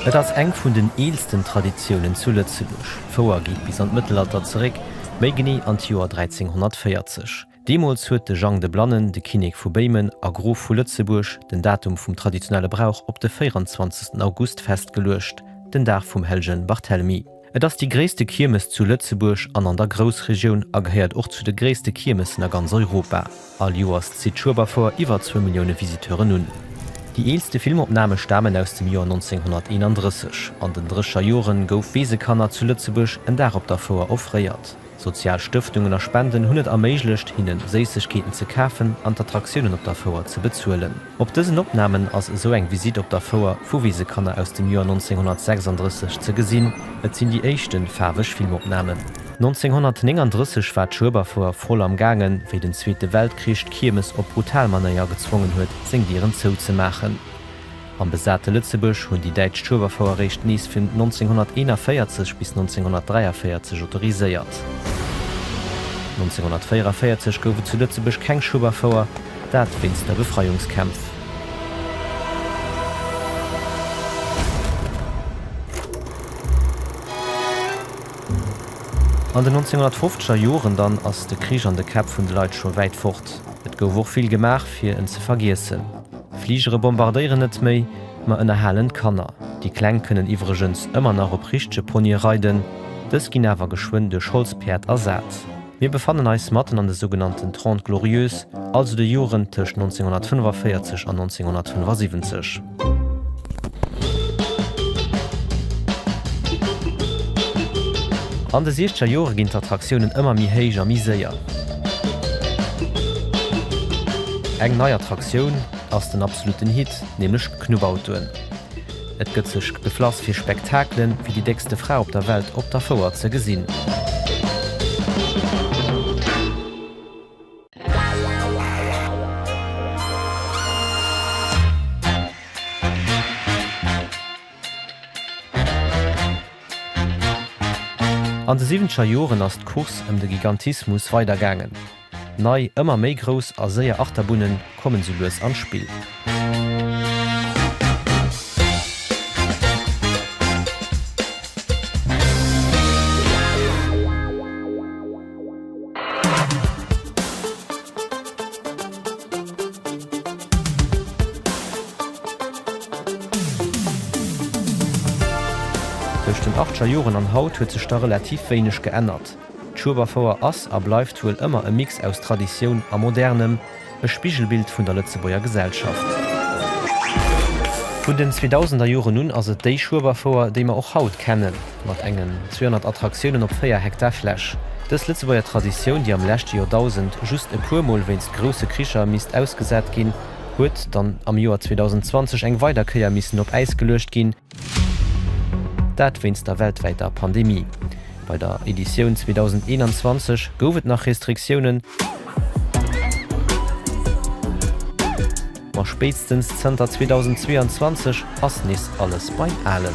Et ass eng vun den eelsten Traditiounen zu Lëtzebuerg. D'Fouer geet bis an d'Mëttelalter zeréck, méi genee an d'Joer 1340. Deemools huet de Jang de Blannen, de Kinnek vu Béimen a Grof vu Lëtzebuerg, den Datum vum traditionelle Brauch op de 24 August festgeluecht, den Dag vum hellege Barthelmy. Et ass déi gréisste Kiermes zu Lëtzebuerg an an der Groussregioun a gehéiert och zu de gréisste Kiermessen a ganz Europa. All Joers zitt d'Schueberfoire iwwer zwou Millioune Visiteuren un. Déi eelste Filmopname stamen aus dem Joer 1931. An den Drécher Joren gouf Weesekanner zu Lëtzebuerg en Dag op der Fouer offréiert. Sozial Stëftungen a Spenden hunn et erméiglecht, hinne Séissegkeeten ze kafen an d'Attraktiounen op der Fouer ze bezuelen. Op dësen Opnamen ass esou eng Visitt op der Fouer vu Wisekanner aus dem Joer 1936 ze gesinn. Et sinn déi éischte faarweg Filmopnamen. 1939 war d'Schueberfouer voll am gaangen, wéi den Zweete Weltkrich d'Kiermes op brutal Manéier gezwongen huet, seng Dieren zouzemaachen. Am besate Lëtzebuerg hunn déi däitsch Schueberfouer eréischt nees vun 1941 bis 1943 autoriséiert. 1944 gouf et zu Lëtzebuerg keng Schueberfouer, dat wéinst der Befreiungskämpf. An den 1950er Joren dann ass de Krich an de Käpp vun de Leit scho wäit fort. Et gouf och vill gemaach, fir en ze vergiessen. Fligere bombardéieren net méi, ma ënnerhalen d'Kanner. Déi Kleng kënnen iwwregens ëmmer nach op richtege Ponye reiden, dës ginn awer geschwënn duerch Holzpäerd ersat. Mir befannen eis matten an de sougenannten Trente Glorieuses, also de Joren tëscht 1945 an 1975. An de Siechzeger Jore ginn d'Attraktiounen ëmmer méi héich a méi séier. Eng nei Attraktioun ass den absolutten Hit, nämlech d'Knubbautoen. Et gëtt sech geflass fir Spektakele wéi déi déckste Fra op der Welt op der Fouer ze gesinn. An de siwwenzeger Joren ass d'Course ëm de Gigantismus weider gaangen. Nei, ëmmer méi grouss a séier Achterbunne kommen sou lues an d'Spill. Tëscht den Ardscher Joren an haut huet sech der relativ wéineg geännert. D'Schueberfouer ass a bleift wuel ëmmer e Mix aus Traditioun a Modernem, E Spigelbild vun der Lëtzebuerger Gesellschaft. Vun den 2000er Joren un ass et déi Schueberfouer, déi mer och haut kennen, mat engen 200 Attraktiounen op 4 Hektar Fläch. Dës Lëtzebuerger Traditioun, déi am leschte Joerdausend just e puer Mol wéinst grousse Kricher misst ausgesat ginn, huet dann am Joer 2020 eng weider Kéier missen op Äis geluecht ginn, Dat wéinst der weltwäiter Pandemie. Bei der Editioun 2021 gouf et nach Restriktiounen, ma spéitstens zënter 2022 ass nees alles beim Alen.